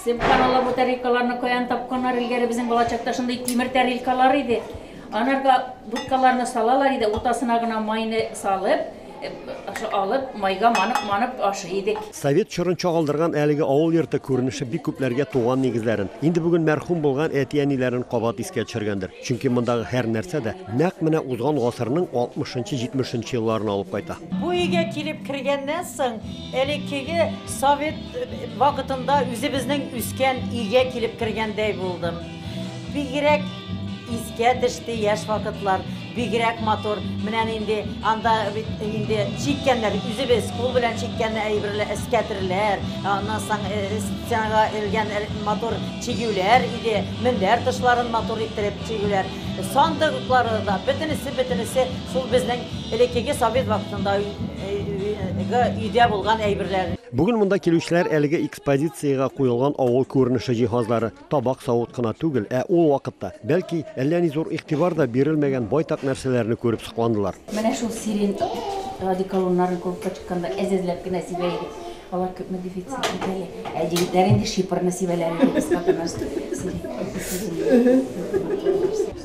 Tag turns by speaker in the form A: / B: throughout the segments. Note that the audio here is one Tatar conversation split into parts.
A: Сепкан ала бу тарелкаларны каян тапканнар, илгәре безнең балачакта шундый тимер тарелкалар иде. Анарга будкаларны салалар иде, уртасына гына майны салып, э, ошо алып, майга манып, манып ашый идек. Совет чорын чагылдырган
B: әлеге авыл йорты күренеше бик күпләргә туган нигезләрен, инде бүген мәрхүм булган әти-әниләрен кабат искә төшергәндер. Чөнки мондагы һәр нәрсә дә нәкъ менә узган гасырның 60-70 елларына алып кайта. Бу өйгә килеп
C: кергәннән соң, Элеккеге совет вакытында үзебезнең үскән өйгә килеп кергәндәй булдым. Бигрәк искә төште яшь вакытлар, бигрәк матур. Менә нинди анда бит инде чиккәннәр, үзебез кул белән чиккән әйберләр, эскәтерләр, аннан соң э, стенага элгән э, матур чигүләр иде, мендәр тышларын матур иттереп чигүләр, сандыклары да, бөтенесе, бөтенесе Шул безнең элеккеге совет вакытында өйдә булган әйберләр. Бүген монда килүчеләр
B: әлеге экспозициягә куелган авыл күренеше җиһазлары, табак-савыт кына түгел, ә ул вакытта, бәлки, әллә ни зур игътибар да бирелмәгән байтак нәрсәләрне күреп сокландылар. Менә шул
A: сирень одеколоннарын кулыкка тотканда әзәзләп кенә сибә идек. Алар күпме дефицит бит әле. Ә егетләр инде шипр насибәләрен
B: кыска гына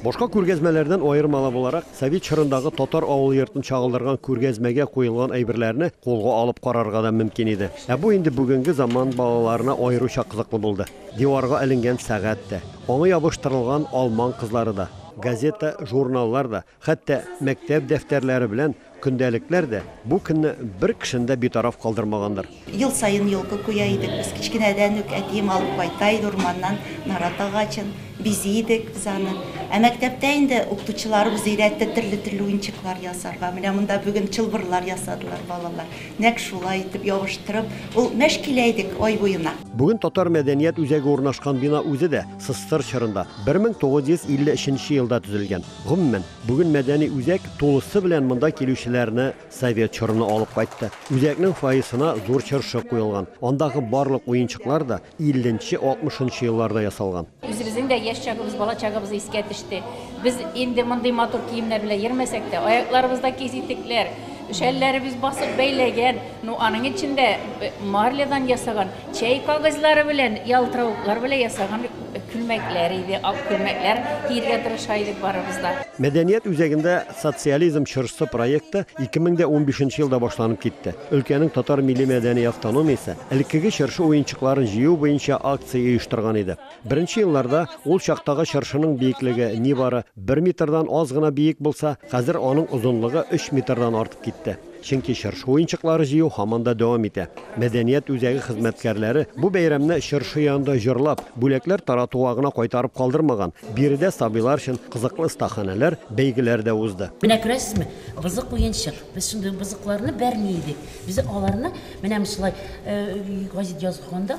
B: Башка күргәзмәләрдән аермалы буларак, совет чорындагы татар авыл йортын чагылдырган күргәзмәгә куелган әйберләрне кулга алып карарга да мөмкин иде. Ә бу инде бүгенге заман балаларына аеруча кызыклы булды. Диварга эленгән сәгать тә, аңа ябыштырылган алман кызлары да, газета, журналлар да, Хәтта мәктәп дәфтәрләре белән көндәлекләр дә бу көнне бер кешене дә битараф калдырмагандыр. Ел саен
D: елка куя идек без. Кечкенәдән үк әтием алып кайта иде урманнан нарат агачын. Бизи идек без аны. Ә мәктәптә инде укытучыларыбыз өйрәтте төрле-төрле уенчыклар ясарга. Менә монда бүген чылбырлар ясадылар балалар. Нәкъ шулай итеп ябыштырып, ул мәш килә идек ай буена. Бүген татар мәдәният
B: үзәге урнашкан бина үзе дә Сызтыр чорында, 1953 нче елда төзелгән. Гомумән, бүген мәдәни үзәк тулысы белән монда килүчеләрне совет чорына алып кайтты. Үзәкнең фойесына зур чыршы куелган. Андагы барлык уенчыклар да 50 нче, 60 нчы елларда ясалган. Үзебезнең дә яшь
A: чагыбыз, бала чагыбыз искә төште. Без инде мондый матур киемнәр белән йөрмәсәк тә, аякларыбызда киз итекләр, шәлләребез басып бәйләгән, ну, аның эчендә марлядан ясаган. Чәй кагызьлары белән, ялтыравыклар белән ясаган күлмәкләр иде, ак күлмәкләр киергә тырыша идек барыбыз да. Мәдәният үзәгендә
B: Социализм чыршысы проекты 2015 нче елда башланып китте. Өлкәнең татар милли-мәдәни автономиясе элеккеге чыршы уенчыкларын җыю буенча акция оештырган иде. Беренче елларда ул чактагы чыршының биеклеге нибары бер метрдан аз гына биек булса, хәзер аның озынлыгы өч метрдан артып китте. Чөнки чыршы уенчыклары җыю һаман да дәвам итә. Мәдәният үзәге хезмәткәрләре бу бәйрәмне чыршы янында җырлап, бүләкләр таратуга гына кайтарып калдырмаган. Биредә сабыйлар өчен кызыклы остаханәләр, бәйгеләр дә узды. Менә күрәсезме,
E: бозык уенчык. Без шундый бозыкларны бәрми идек. Без аларны менә шулай гәзит язганда,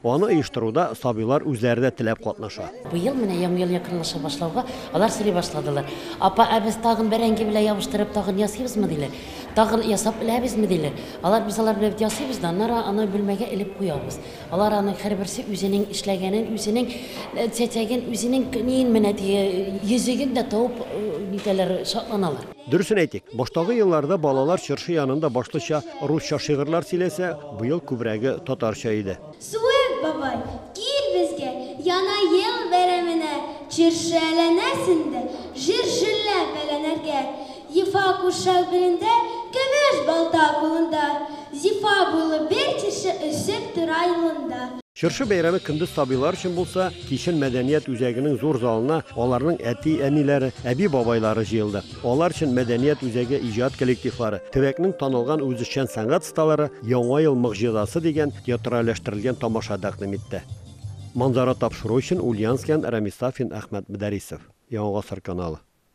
B: Аны оештыруда сабыйлар үзләре дә теләп катнаша. Быел менә Яңа ел
E: якынлаша башлауга, алар сорый башладылар, Апа, ә без тагын бәрәңге белән ябыштырып тагын ясыйбызмы, диләр. Тагын ясап беләбезме, диләр. Алар, Без алар белән бит ясыйбыз да, аннары аны бүлмәгә элеп куябыз. Алар аның һәрберсе үзенең эшләгәнен, үзенең чәчәген, үзенең ниен менә теге йөзеген дә табып нитәләр, шатланалар. Дөресен әйтик,
B: баштагы елларда балалар чыршы янында башлыча русча шигырьләр сөйләсә, быел күбрәге татарча иде. Суык бабай,
F: кил безгә, Яна ел бәйрәменә, Чыршы әйләнәсен дә, Җыр җырлап әйләнергә. Ефа курчак билендә, Көмеш балта кулында, Зифа буйлы бер чыршы Үсеп тора юлында. Чыршы бәйрәме
B: көндез сабыйлар өчен булса, кичен мәдәният үзәгенең зур залына аларның әти-әниләре, әби-бабайлары җыелды. Алар өчен мәдәният үзәге иҗат коллективлары, төбәкнең танылган үзешчән сәнгать осталары Яңа ел могҗизасы дигән театральләштерелгән тамаша тәкъдим итте. Манзара тапшыру өчен Ульянскидан Рәмис Сафин, Әхмәт Мөдәрисов. Яңа гасыр каналы.